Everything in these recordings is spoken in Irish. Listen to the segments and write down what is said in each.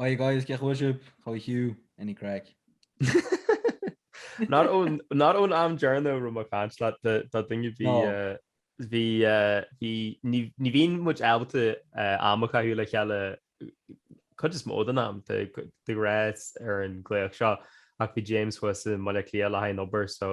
Hi guys, cén chaoi a bhfuil sibh? How are you? Any craic? Not ón not ón am deireanach a raibh mé ag caint leat do do duine bhí No. eh, bhí eh, bhí ní ní bhíonn muid ábalta eh, am a chaitheamh le chéile cuid is mó den am de go- de rá ar an nglaoch seo ach bhí James thuas i mBaile Átha Cliath le haghaidh an obair so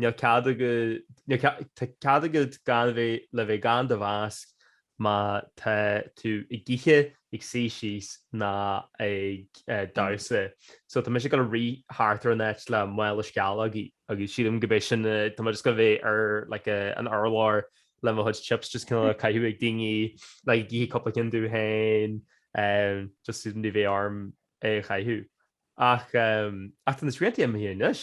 Níl cead agat, tá cead agat gan a bheith, le bheith gan do mhasc má tá tú ag ithe, ag suí síos ná ag damhsa. So tá mise gonna rith thart ar an áit le mála sceallógaí agus sílim go b'é sin a, tá mé just gonna bheith ar like an urlár le mo chuid chips just kinda á gcaitheamh ag daoine like ag ithe cúpla ceann dom féin just so ní bheidh orm é a chaitheamh. Ach tá na srianta imithe anois.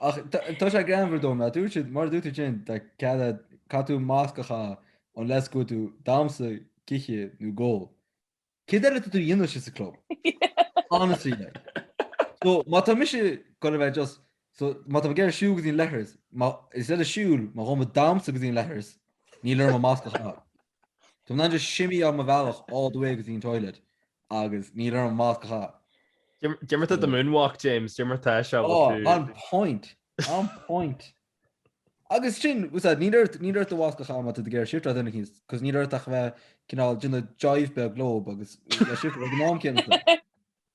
Ach tá sé greannmhar dom, mar dúirt siad, mar dúirt tú ansin, tá cead é, caithfidh tú masc a chaitheamh unless go bhfuil tú ag damhsa, ag ithe nó ag ól. Céard eile tá tú a dhéanamh istigh sa club? Honestly like. So má tá mise gonna bheith just, so má tá mé ag iarraidh siúl go dtí an leithreas, instead of siúl, má tá mé ag damhsa go dtí an leithreas, níl orm an masc a chaitheamh. Tá mé in ann just shimmyáil mo bhealach all the way go dtí an toilet agus níl orm masc a chaitheamh. Cad é mar tá do moonwalk James, cad é mar tá sé agat. On point, on point. Agus sin, usa, níl ort, níl ort do mhasc a chaitheamh má tá tú ag iarraidh shifteáil duine éicint, cos níl ort ach bheith cineál, do you know, jive beag leob agus bheith ag shifteáil ag an am céanna.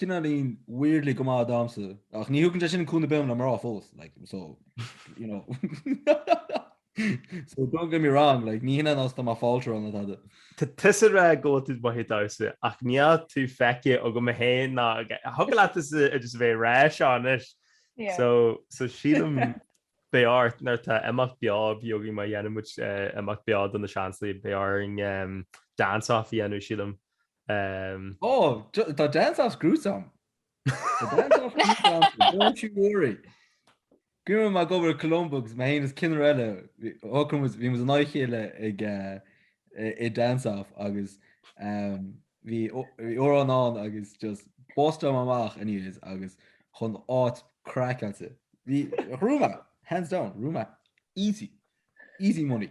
cineáilín weirdly go maith ag damhsa, ach ní thugann sé sin cúnamh ar bith dhom le mná fós, like, so, you know. so don't get me wrong, like, ní hionann is tá mé fáilte ann le tada. Tá tusa ag rá go bhfuil tú maith ag damhsa, ach níl tú feicthe agam féin nó thig leatsa just a bheith ag rá seo anois. Yeah. So, so sílim beidh ort nuair tá imeacht beo againn má dhéanann muid eh, imeacht beo do na Seansálaithe, beidh orainn em, dance-off a dhéanamh sílim Umm. Ó, tá dance as gruesome. Tá dance as gruesome, don't you worry. Guím me go bhfuil Colombo agus me fhéin is cinneadh eile, bhí muid an aghaidh chéile ag i dance off agus bhí amhrán ann agus just bust liom amach anyways agus chun áit craic ansa. Bhí Rúma, hands down, Rúma easy, easy money.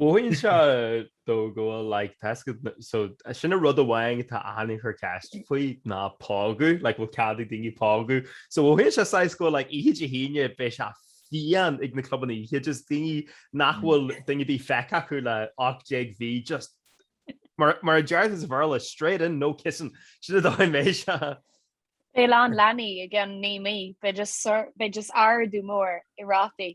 Mothaíonn sé domh go bhfuil like taisce so sin an rud amháin atá achan duine ag cur ceist faoi ná pógadh like bhfuil cead ag daoine pógadh so mothaíonn sé saghas go bhfuil like oíche Dé hAoine beidh sé fiáin ag na clubanna oíche just daoine nach bhfuil duine ar bith feicthe acu le 18 mí just mar mar a déarfá as Béarla straight in no kissing sin an dóigh a mbeidh sé. Beidh a lán leanaí i gceann 9 mí beidh just ardú mór i rátaí.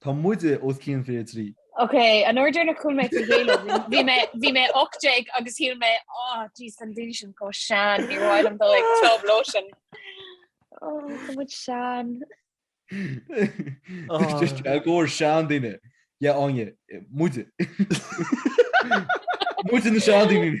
Tá muide os cionn fiche a trí. Ok, an uair dheireanach a chuaigh mé chuig Halo bhí mé bhí mé ocht déag agus shíl mé ah jeez tá an duine sin chomh sean níor mhaith liom dul ag club leo sin. Oh tá muid sean. I gcomhair seandaoine. Yeah Áine muide. Muide na seandaoine.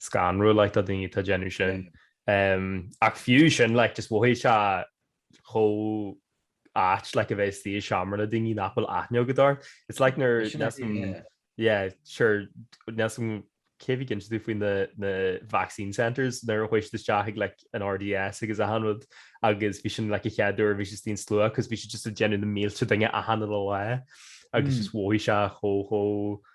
scanrúil like do dhaoine atá déanamh sin ach fiú sin like just mhothaigh sé chomh ait like a bheith istigh i seomra le daoine nach bhfuil aithne agat orthu. It's like nuair yeah sure cuimhníonn tú faoi na vaccine centres nuair a chuaigh siad isteach ag like an RDS agus achan rud agus bhí sin like an chéad uair a bhí siad istigh i slua cos bhí siad just ag déanamh na mílte duine achan lá agus just mhothaigh sé chomh chomh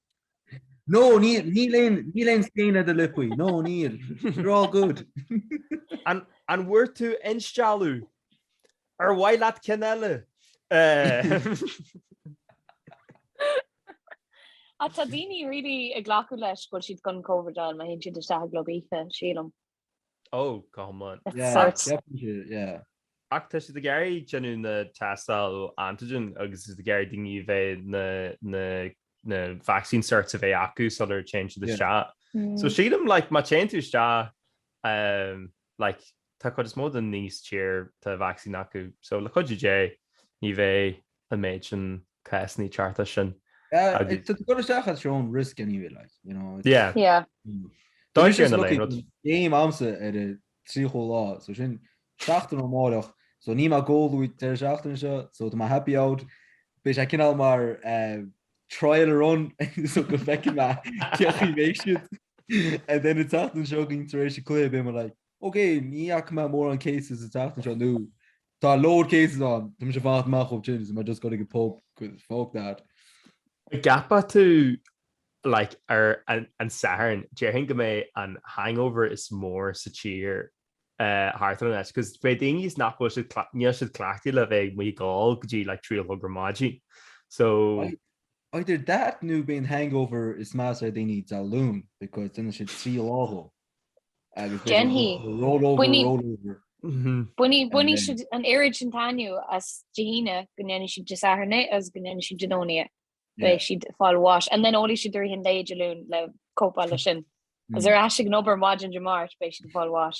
No, níl aon scéine do lipuí, no, níl. You're all good. An bhfuair tú instealladh? Ar mhaith leat ceann eile? Tá daoine really ag glacadh leis go bhfuil siad chun Covid a fháil, má théann siad isteach i gclub oíche, sílim. Ó, go hiomlán. Ach tá siad ag iarraidh déanamh na tástáil antigen agus siad ag iarraidh daoine a bheith na vaccine certs a bheith acu sular téann siad isteach. So sílim like má téann tú isteach like tá cuid is mó daoine sa tír tá vaccine acu so le cuidiú Dé ní bheidh an méid sin cásanna ag teacht as sin. Agus... Tá tú ag goil isteach at your own risk anyway, like, you know. It's... Yeah. Yeah. Dáir sé na léin. Game agamsa ar an tríochú lá, so sin seachtain ó amáireach, so níl mé ag ól an deireadh seachtaine seo, so tá mé happy out, beidh sé cineál mar uh, trial run, so go bhfeicfidh mé cén chaoi a mbeidh siad. And then an tseachtain seo chugainn tar éis an chluiche, beidh mé like, ok, ní fhaca mé mórán cases an tseachtain seo nó, Tá a load cases ann. Tá mise ag fanacht amach uaidh sin is tá mé just ag goil chuig an pub cos. Fuck that. An gceapann tú like ar an Satharn, déarfainn go mbeidh an hangover is mó sa tír thart ar an áit cos beidh daoine is nach bhfuil siad níl siad cleachtaithe le bheith amuigh ag ól go dtí like trí a chlog ar maidin so. Either that nó beidh an hangover is measa ar dhaoine Dé Luain because déanfaidh siad trí lá de. Bainfidh siad an oiread sin taitneamh as Dé hAoine go ndéanfaidh siad Dé Sathairn é agus go ndéanfaidh siad Dé Domhnaigh é. Beidh siad ag fáil bháis and then ólfaidh siad i rith an lae Dé Luain le cópáil leis sin. Is ar ais ag an obair maidin Dé Máirt beidh siad ag fáil bháis.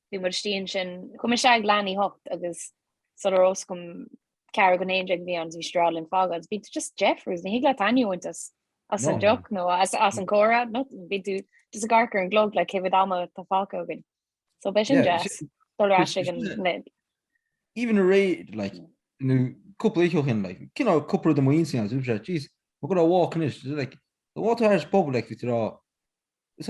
bhí muid istigh ansin, chuaigh muid isteach ag leath i ndiaidh a hocht agus sular a raibh a fhios againn ceathrú go dtí a haon déag a bhí ann agus bhí orainn fágáil agus bhí tú just faoi dheifir agus ní thig leat taitneamh a bhaint as as an deoch nó as an comhrá nó bhí tú just ag amharc ar an gclog le cé mhéad ama tá fágtha againn. So beidh sin deas dul ar ais chuige. Even aréir like nó cúpla oíche ó shin like chuaigh cúpla de mo mhuintir agus mé jeez ag gabháil ag walk anois like the Waterside pobal like bhí rá is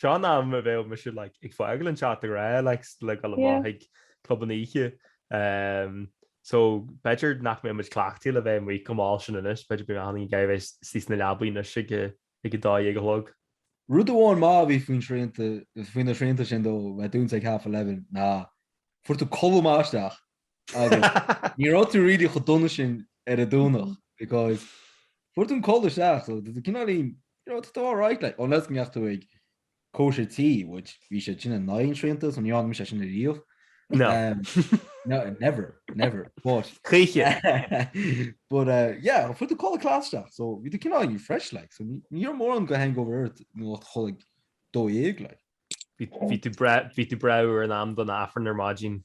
Seo an am a bheadh mise like ag fágáil an teach ag rá like le dul amach chuig clubanna oíche ehm so b'fheidir nach mbeadh muid cleachtaidh le bheith amuigh chomh mall sin anois b'fheidir b'fhearr linn a bheith inár suí sa leabaidh anois ag ag a dó dhéag a chlog. Rud amháin maith a bhí faoin srianta faoi na srianta sin dóibh bheith dúnta ag half eleven ná fuair tú codladh maith isteach Ní raibh tú really chomh dona sin ar an Domhnach because fuair tú an codladh isteach so bhí tú cineál you know, alright like unless go mbeadh tú ag cóisir tí which bhí sé sin in éadan na srianta so ní dhearna mise sin a riamh. No. Um, no, never, never. But Chaoiche. but uh, yeah, fuair tú codladh class isteach so bhí tú cineál fresh like so ní- ní raibh mórán de hangover ort nó chodail go dó dhéag like. Bhí bhí tú bre- bhí tú breá in am don Aifreann ar maidin.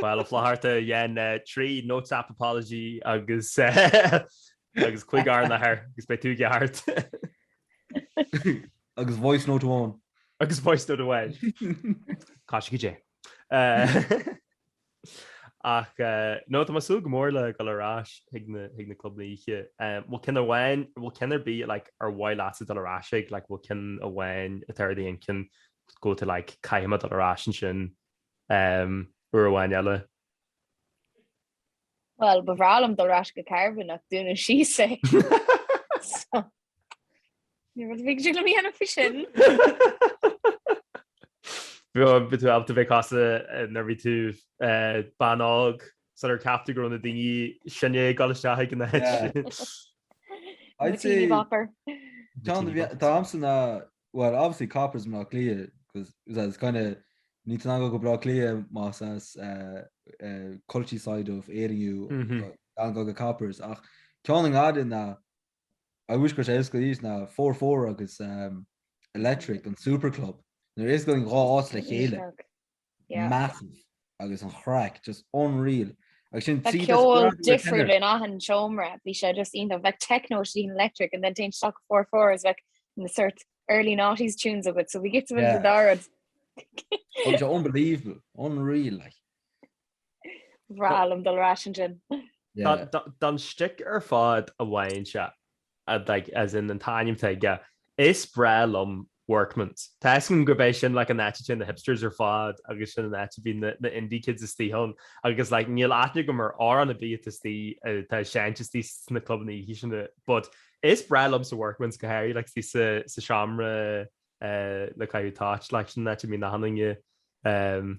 Bhuel a Fhlatharta déan trí Notes App Apology agus agus cúig Ár nAthair agus beidh tú i gceart. Agus Voice Note amháin. Agus Voice Note amháin. Caithfidh sí go deo. Ach nó tá mé ag súil go mór le dul ar ais chuig na clubanna oíche. Bhfuil ceann amháin bhfuil ceann ar bith like ar mhaith leatsa dul ar ais chuige bhfuil ceann amháin atá ar d'intinn go bhfuil tú like caithfidh mé dul ar ais ansin uair amháin eile. Bhuel, ba bhreá liom dul ar ais go Carbon ach dúnadh síos é so níl rud ar bith le déanamh faoi sin. Bhí tú ar tí bheith casta nuair a bhí tú bean óg so níor cheap tú go raibh na daoine sin ag dul isteach ag an áit sin. I'd say domsa well obviously Coppers i mBleá Cliath because it's kind of ní théann tú go Bleá Cliath más as uh, uh, culchie side of Éire thú mm -hmm. gan dul go Coppers ach ceann a ndéarfainn I wish go raibh sé oscailte ná Four Four agus um, Electric an Superclub nuair a osclaíonn an dá áit le chéile massive agus an chraic just unreal agus saghas ceol difriúil in achan seomra bhí sé just iontach bheadh techno san Electric and then téann tú isteach go Four Four is bheadh na sort early noughties tunes agat so bhí sé just yeah. thar barr unbelievable unreal like Bhreá liom dul ar ais ansin. Don stick ar fad a bhfaigheann sé, like as in an t-ainm atá aige, is breá liom Workmans. Tá a fhios agam gurb é sin like an áit a téann na hipsters ar fad agus sin an áit a bhíonn na indie kids istigh ann agus like níl aithne agam ar amhrán ar bith istigh atá ag seinnt istigh sna clubanna oíche sin but is breá liomsa Workmans go háirí like istigh sa, sa seomra le caitheamh toit like sin an áit a bhíonn achan duine um,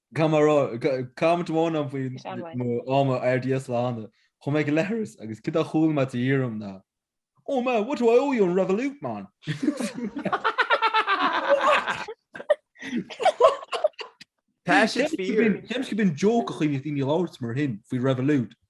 Comment amháin ann faoi mo am ar RDS le hÁine. Chuaigh mé go leithreas agus céard a chuala mé taobh thiar dom ná, Oh man, what do I owe you on Revolut, man? Tá siad fíor. Cheap mise gurb in joke an chaoi a mbíodh daoine ag labhairt mar shin faoi Revolut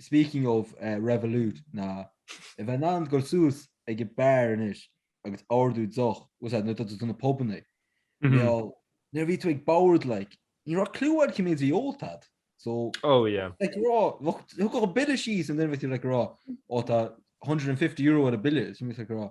Speaking of Revolut ná a bheith in ann dul suas ag an beár anois agus ordú deoch, what's that, nuair atá tú sna pubanna, mar gheall nuair a bhí tú ag bord like ní raibh cliú agat cé mhéad a bhí ólta agat so Oh yeah. like rá thugadh an bille síos and then bhí tú like rá oh tá €150 ar an bille so bhí tú like rá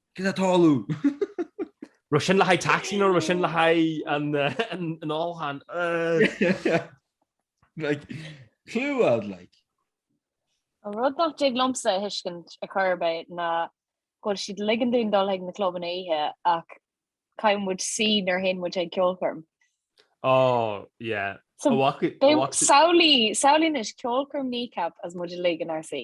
Cad a tarlú? Raibh sin le haghaidh taxi nó raibh sin le haghaidh an ólacháin? Clue like. An rud nach dtig liomsa a thuiscint ar chor ar bith ná go bhfuil siad ag ligean dúinn dul chuig na clubanna oíche ach caithfidh muid suí nuair a théann muid chuig ceolchoirm. Ó, yeah. Samhlaigh anois ceolchoirm Kneecap is muid uilig inár suí.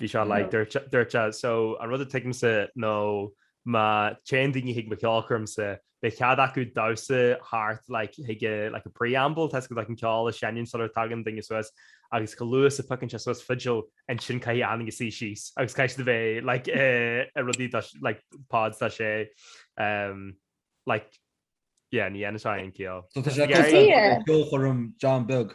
Bhí sé like dúirt sé so an rud a thuigimse ná má téann daoine chuig mo cheolchoirmse beidh cead acu damhsa thart like chuig like a preamble tá go like an ceol a sheinneann sular tagann duine suas agus go luath is a phiocann sé suas fidil ansin caithfidh achan duine suí síos agus caithfidh siad a bheith like i rudaí like pods tá sé um like yeah ní dhéanann sé aon ciall. Tá sé ceolchoirm John Beag.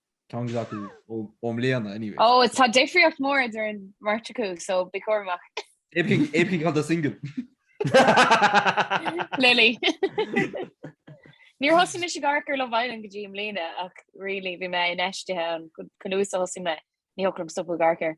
Táimid acu i mbliana anyway. Ó, tá difríocht mór idir an mbeirt acu, so bí cúramach. Cibé cé acu atá single. Lily. Níor thosaigh mise ag amharc ar Love Island go dtí i mbliana ach really bhí mé infheistithe ann, chomh luath is a thosaigh mé, ní thiocfadh liom stopadh ag amharc air.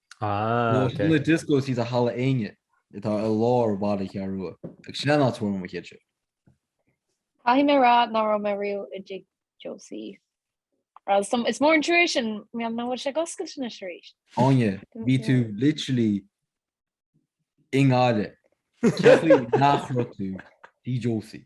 Nuair a dioscó thíos sa Halla Éinne atá i lár bhaile an Cheathrú Rua, agus sin an áit a bhfuair mé mo chéadsa. Caithfidh mé a rá ná raibh mé riamh i dtigh Josie. Is mór an trua é sin, mar gheall nach bhfuil sé ag oscailt anois arís. Áine, bhí tú literally i nGaillimh. Cén chaoi nach raibh tú i dtigh Josie.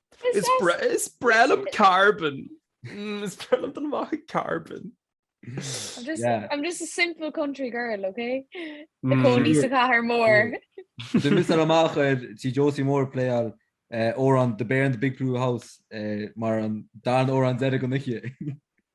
Is is breá liom Carbon. Mm, is breá liom dul amach i Carbon. I'm just, Yeah. I'm just a simple country girl, okay? Na Mm. cónaí sa chathair mór. Sin mise amach ar Tigh Josie Moore ag playáil amhrán The Bear in the Big Blue House eh, mar an darna amhrán deireadh den oíche.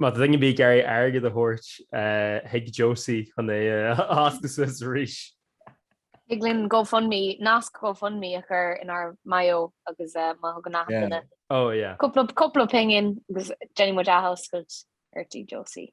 Má tá duine ar bith ag iarraidh airgead a thabhairt do Tigh Josie chun é a oscailt suas arís. Thig linn GoFundMe, nasc GoFundMe a chur inár mbio agus má thugann achan duine cúpla pingin agus déanfaidh muid athoscailt ar Tigh Josie.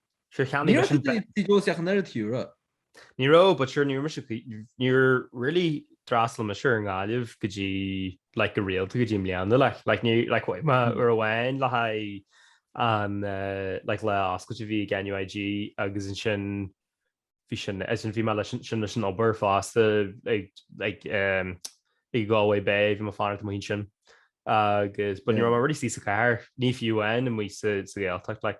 Sure cheannaigh Ní raibh mise i dTigh Josie ar an Cheathrú Rua. Ní raibh, but sure níor mise níor really fhreastail mise ar an nGaillimh go dtí like go rialta go dtí i mbliana like like ní like chuaigh mé uair amháin le haghaidh an like lá oscailte a bhí ag NUIG agus ansin bhí sin ansin bhí mé leis sin leis an obair fosta ag ag i Galway Bay bhí mé ag fanacht amuigh ansin agus but ní raibh sí sa chathair ná fiú amuigh sa Ghaeltacht like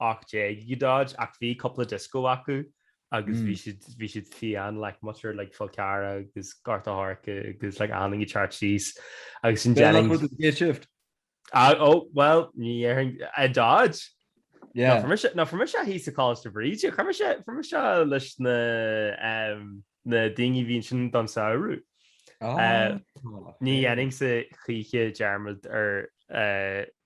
18 go Dodge ach bhí cúpla disco acu agus bhí siad bhí siad fiáin like muintir like Fál Carrach agus Gort a' Choirce agus like na daoine thart thíos agus in Jennings. Bean a chuir day shift. Ah oh well ní dhéarfainn i Dodge. Yeah. No fuair no fuair mise í sa Choláiste Bhríde fuair mise fuair mise leis na na daoine a bhíonn ansin don samhradh. Ní dhéanfainnse choíche dearmad ar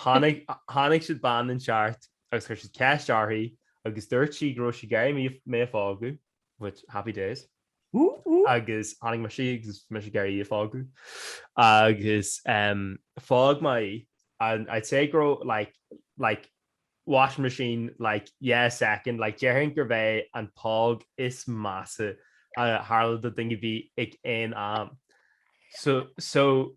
Tháinig siad bean inteacht agus chuir siad ceist uirthi agus dúirt sí go raibh sí ag iarraidh mé a phógadh, which, happy days, agus tháinig mise agus bhí mise ag iarraidh í a phógadh agus phóg mé í and I'd say go raibh like, like washing machine, like yeah a second, like déarfainn gurbh é an phóg is measa a tharla do dhuine ar bith ag aon am. So, so,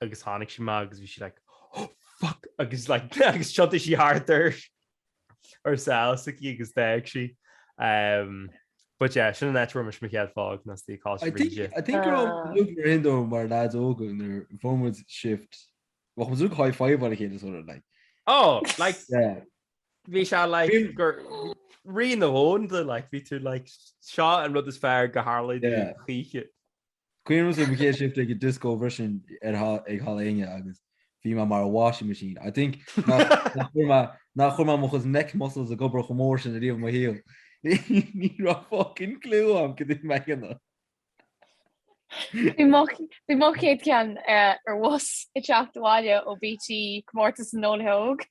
agus tháinig sí amach agus bhí sí like oh fuck agus like agus thiontaigh sí thart ar a sáil sa cí agus d'fhág sí. Um, but yeah, sin an áit a bhfuair mise mo chéad phóg nasty cá I think, ríide. I think we're all looking around though, mar lads óga nuair a fuair muid shift, bhí muid ag high-fiveáil a chéile sort of like. Oh, like, Yeah. bhí sé like Bhí- gur rí an domhain tú like bhí tú like seo an rud is fearr a tharlóidh Yeah. choíche. Cuimhnímse mo chéad shift ag an dioscó freisin ag Halla Éinne agus bhí mé mar a washing machine. I think nach chuir mé mo chuid neck muscles ag obair chomh mór sin ariamh i mo shaol. Ní raibh fucking clue agam céard a bhí mé ag déanamh. Bhí mo chéad cheann ar bhus ag teacht abhaile ó BT, comórtas na nEolaithe Óga.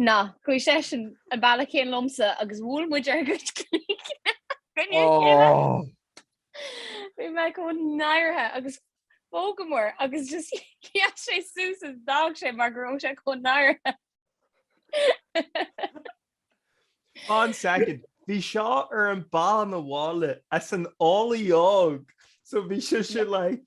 Ná, chuaigh seisean an bealach chéanna liomsa agus bhuail muid ár gcuid cloigne ina chéile. Oh! Bhí mé chomh náirithe agus phógamar agus just sheas sé suas agus d'fhág sé mar go raibh sé chomh náirithe. One second. Bhí seo ar an mbealach abhaile as an Eolaí Óg. So bhí sé sin like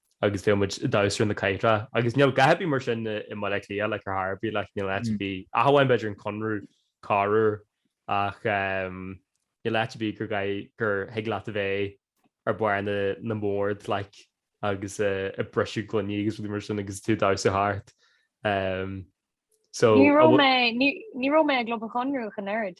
agus bheadh muid ag damhsa ar na cathaoireacha agus níl dath ar bith mar sin i mBaile Átha Cliath like ar chor ar bith like níl áit ar bith ach amháin b'fhéidir an Conradh corruair ach níl áit ar bith gur gur thig leat a bheith ar bharr na na mbord like agus ag briseadh gloiní agus rudaí mar sin agus tú ag damhsa thart so. Ní raibh mé ní raibh mé i gClub Chonradh ach an oiread.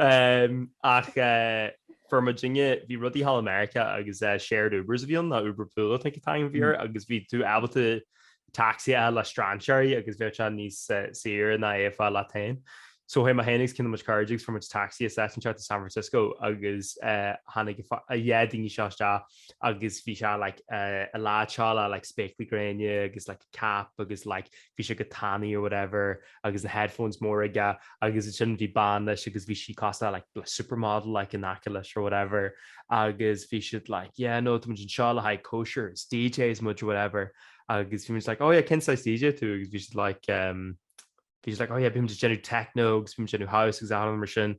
Ach fuair muidinne, bhí rudaí thall i Meiriceá agus shared Ubers a bhí ann, nó Uber Pool I think at the time a bhí air, agus bhí tú ábalta tacsaí a fháil le strainséirí agus bheadh sé níos saoire ná é a fháil leat féin. So chuaigh mé féin agus ceann de mo chuid cairde agus fuair muid tacsaí isteach go San Francisco agus tháinig an duine seo isteach agus bhí sé like a lá tall á like spéaclaí gréine agus like a cap agus like bhí sé go tanaí or whatever agus na headphones móra aige agus ansin bhí bean leis agus bhí sí cosúil le like supermodel like in aice leis or whatever agus bhí siad like yeah no tá muid anseo le haghaidh cóisir is DJs muid or whatever agus bhí muid like oh yeah cén saghas DJ tú agus bhí siad like um, bhí siad like oh yeah bíonn muid ag déanamh techno agus bíonn muid ag déanamh house agus anam mar sin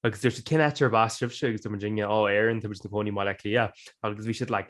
agus dúirt siad cén áit arb as sibhse agus dúirt muidinne ó Éirinn tá muid ina gcónaí i mBaile Átha Cliath agus bhí siad like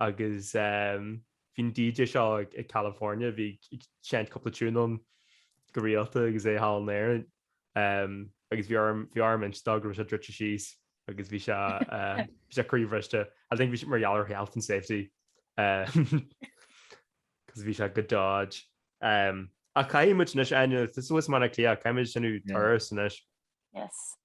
agus bhí an DJ seo as California, a bhí ag seinnt cúpla tiún ann go rialta agus é thall in Éirinn agus bhí orm, bhí orm inse dó go raibh sé druidte síos agus bhí sé, bhí sé croíbhriste, I think bhí sé mar gheall ar health and safety cos bhí sé go dodge. Ach caithfidh muid anois, Áine, suas i mBaile Átha Cliath, caithfidh muid déanamh turas anois. Yes.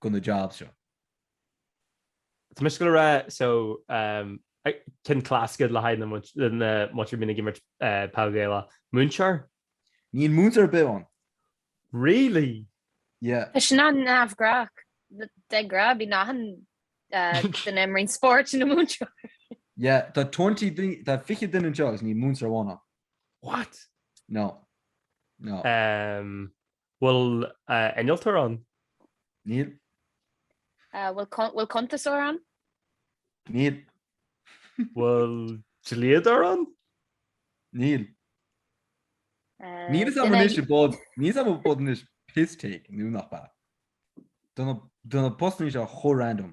go na jobs seo. Tá mise ag goil a rá so ceann classic le haghaidh na muintir a bhíonn ag imirt peil Ghaelach. Múinteoir? Níl múinteoir ar bith ann. Really? Yeah. Tá sin an-neamhghnách. De ghnáth bíonn achan duine a imríonn spórt ina múinteoir. Yeah, tá twenty duine, tá fiche duine anseo agus níl múinteoir amháin ann. What? No. No. Bhfuil innealtóir ann? Níl. Bhfuil cuntasóir ann? Níl. Bhfuil dlíodóir ann? Níl. Níl a fhios agam anois but, níl a fhios agam but anois piss take, nó nach ba. Tá na postannaí seo chomh random.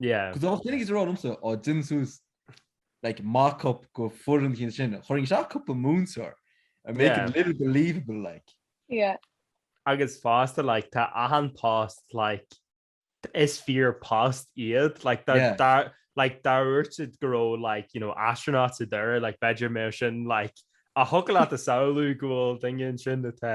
Yeah da mba rud é go raibh mise á déanamh suas like mock up den fhoireann chéanna sin. Chuirfinn isteach cúpla múinteoir, make it a little believable like. Yeah. Agus fosta like tá achan post like is fíor post iad like dá like dá ndúirt siad go raibh like you know astronaut sa deireadh like b'fhéidir go mbeadh sin like ó thiocfadh leat a shamhlú go bhfuil duine ansin atá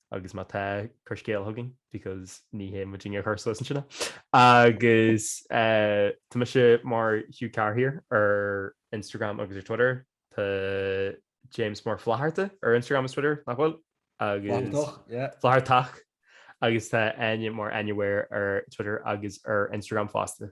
agus má tá cuir scéal chugainn because ní hé muidinne a chuir suas é sin agus tá mise mar Hugh Carr here ar Instagram agus ar Twitter Tá James mar Flaharta ar Instagram is Twitter nach bhfuil agus Flahartach agus tá Áine mar anywhere ar Twitter agus ar Instagram fásta.